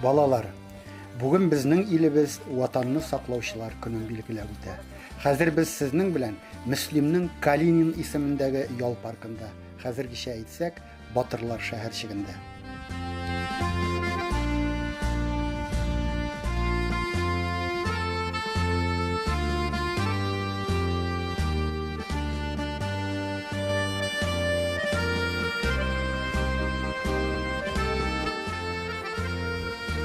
Балалар, бүген безнең илебез ватанны саклаучылар көнен билгеләп үтә. Хәзер без сезнең белән Мөслимнең Калинин исемендәге ял паркында. Хәзергечә әйтсәк, Батырлар шәһәрчегендә.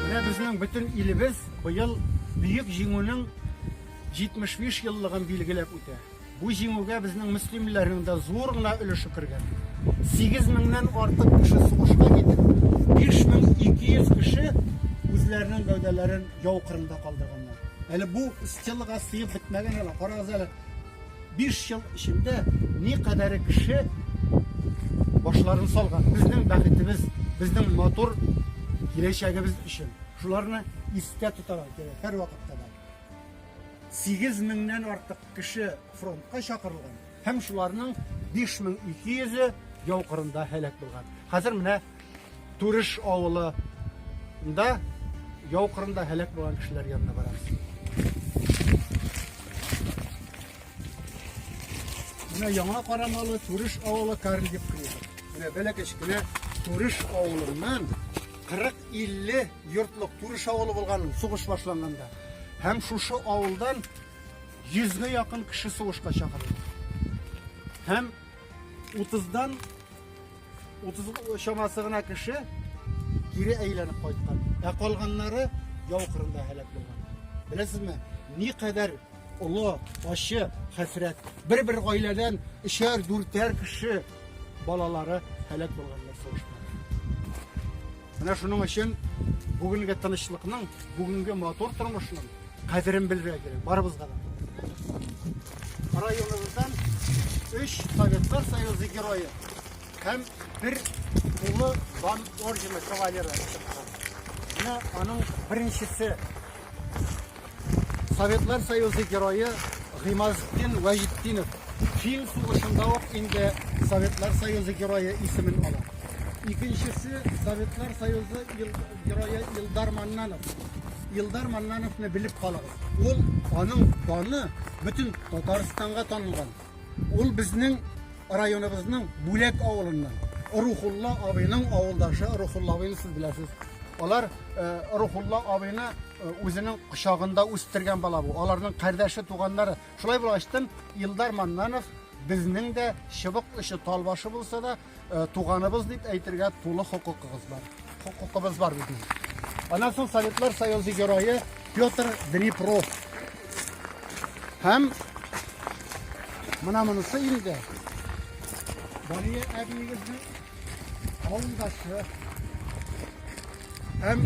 Менә безнең бөтен илебез быел Бөек Җиңүнең 75 еллыгын билгеләп үтә. Бу җиңүгә безнең мөслимлеләрнең дә зур гына өлеше кергән. Сигез меңнән артык кеше сугышка китеп, 5200 кеше үзләренең гәүдәләрен яу кырында калдырганнар. Әле бу стелага сыеп бетмәгән генә, карагыз әле, биш ел эчендә никадәре кеше башларын салган. Безнең бәхетебез, безнең матур киләчәгебез өчен. Шуларны истә тотарга кирәк һәрвакытта да. Сигез меңнән артык кеше фронтка чакырылган һәм шуларның 5200-е яу кырында һәлак булган. Хәзер менә Турыш авылында яу кырында һәлак булган кешеләр янына барабыз. Менә яңа карамалы Турыш авылы Карлиев кыры. Менә бәләкәч кенә Турыш авылыннан 40-50 йортлык Турыш авылы булган ул сугыш башланганда. Һәм шушы авылдан 100 гә якын кеше сугышка чакырылган. Һәм 30дан 30 чамасы гына кеше кире әйләнеп кайткан. Ә калганнары яу кырында һәлак булган. Беләсезме, никадәр Олы, ачы хәсрәт. Бер-бер гаиләдән өчәр, дүртәр кеше балалары һәлак булганнар сугышта. Менә шуның өчен бүгенге тынычлыкның, бүгенге матур тормышның кадерен белергә кирәк барыбызга да. Районыбыздан өч Советлар Союзы герое һәм бер улы Ван ордены кавалеры чыккан. Менә аның беренчесе Советлар Союзы герое Гыймазетдин Вәҗетдинов фин сугышында ук инде Советлар Союзы герое исемен ала. Икенчесе Советлар Союзы герое Илдар Маннанов. Илдар Маннановны белеп калыгыз. Ул аның даны бөтен Татарстанга танылган. Ул безнең районыбызның Бүләк авылыннан. Рухулла абыйның авылдашы Рухулла абыйны сез беләсез. Алар э, Рухулла абыйны э, үзенең кочагында үстергән бала бу. Аларның кардәше, туганнары. Шулай булгачтын Илдар Маннанов безнең дә чыбык очы талбашы булса да, Э, туганыбыз дип әйтергә тулы хокукыгыз бар. Хокукыбыз бар бит. Аннан соң Советлар Союзы герое Петр Днепров. Һәм менә монысы инде. Бария әбиегезнең авылдашы. Һәм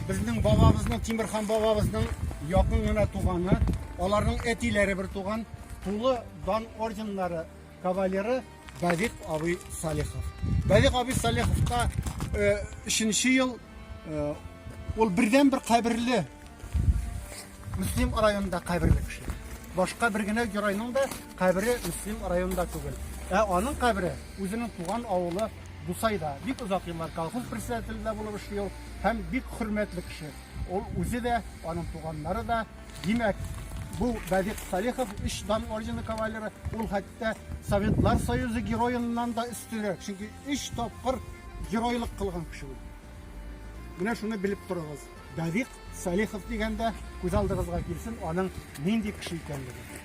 безнең бабабызның Тимирхан бабабызның якын гына туганы, аларның әтиләре бер туган, тулы дан орденнары Кавалеры Давид абый Салихов. Давид абый Салиховка өченче ел ул бердән бер каберле Мөслим районында каберле кеше. Башка бер генә геройның да кабере Мөслим районында түгел. Ә аның кабере үзенең туган авылы Дусайда. Бик озак еллар колхоз председателендә булып эшли ул һәм бик хөрмәтле кеше. Ул үзе дә, аның туганнары да Димәк, бу Давид Салихов, өч Дан ордены кавалеры, ул хәтта Советлар Союзы героеннан да өстенрәк, чөнки өч тапкыр геройлык кылган кеше ул. Менә шуны белеп торыгыз. Давид Салихов дигәндә күз алдыгызга килсен аның нинди кеше икәнлеге.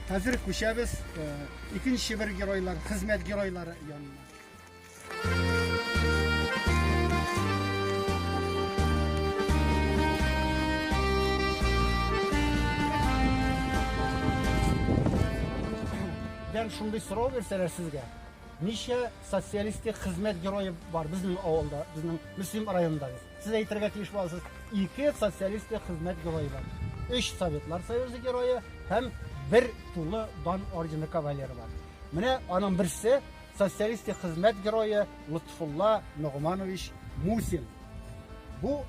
Хәзер күчәбез э, икенче бер геройлар, хезмәт геройлары янына. Дән шундый сорау бирсәләр сезгә, ничә социалистик хезмәт герое бар безнең авылда, безнең Мөслим районында? Сез әйтергә тиеш буласыз, ике социалистик хезмәт герое бар. Өч Советлар Союзы герое һәм бер тулы дан ордены кавалеры бар. Менә аның берсе Социалистик хезмәт герое Лотфулла Ногманович Мусин. Бу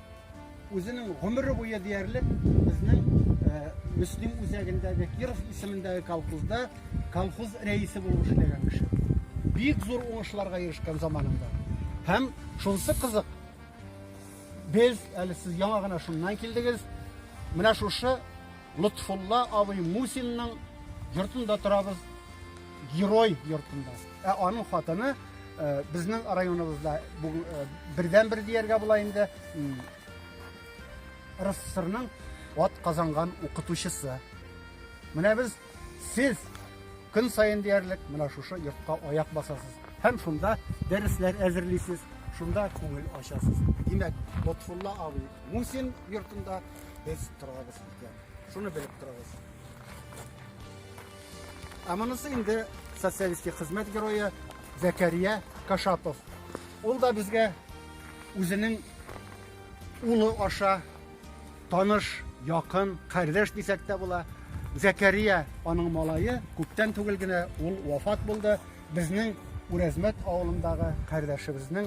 үзенең гомере буе диярлек безнең э, Мөслим үзәгендәге Киров исемендәге колхозда колхоз рәисе булып эшләгән кеше. Бик зур уңышларга ирешкән заманында. Һәм шунсы кызык, без әле сез яңа гына шуннан килдегез, менә шушы Лотфулла абый Мусинның йортында торабыз, герой йортында. Ә аның хатыны э, безнең районыбызда бу э, бердән-бер дияргә була инде м, РСФСРның ат казанган укытучысы. Менә без сез көн саен диярлек менә шушы йортка аяк басасыз һәм шунда дәресләр әзерлисез, шунда күңел ачасыз. Димәк, Лотфулла абый Мусин йортында Без торабыз икән. Шуны белеп торабыз. Ә монысы инде социалистик хезмәт герое Зәкәрия Кашапов. Ул да безгә үзенең улы аша таныш, якын, кардәш дисәк тә була. Зәкәрия аның малае, күптән түгел генә ул вафат булды. Безнең Үрәзмәт авылындагы кардәшебезнең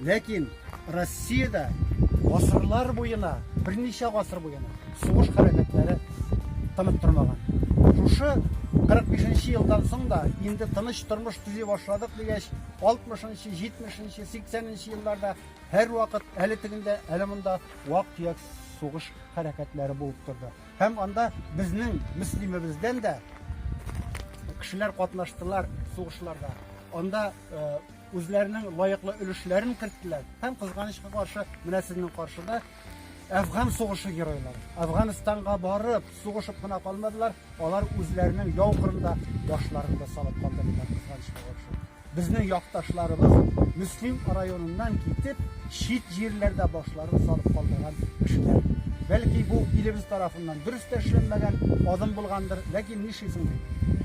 Ләкин Россиядә гасырлар буена, берничә гасыр буена сугыш хәрәкәтләре тынып тормаган. Шушы 45 нче елдан соң да, инде тыныч тормыш төзи башладык дигәч, 60 нчы, 70 нчы, 80 нчы елларда һәрвакыт әле тегендә, әле монда вак-төяк сугыш хәрәкәтләре булып торды. Һәм анда безнең Мөслимебездән дә кешеләр катнаштылар сугышларда. Анда үзләренең лаеклы өлешләрен керттеләр һәм, кызганычка каршы, менә сезнең каршыда Әфган сугышы геройлары. Әфганстанга барып, сугышып кына калмадылар, алар үзләренең яу кырында башларын да салып калдырдылар, кызганычка каршы. Безнең якташларыбыз Мөслим районыннан китеп, чит җирләрдә башларын салып калдырган кешеләр. Бәлки бу илебез тарафыннан дөрес тә эшләнмәгән адым булгандыр, ләкин нишлисең бит?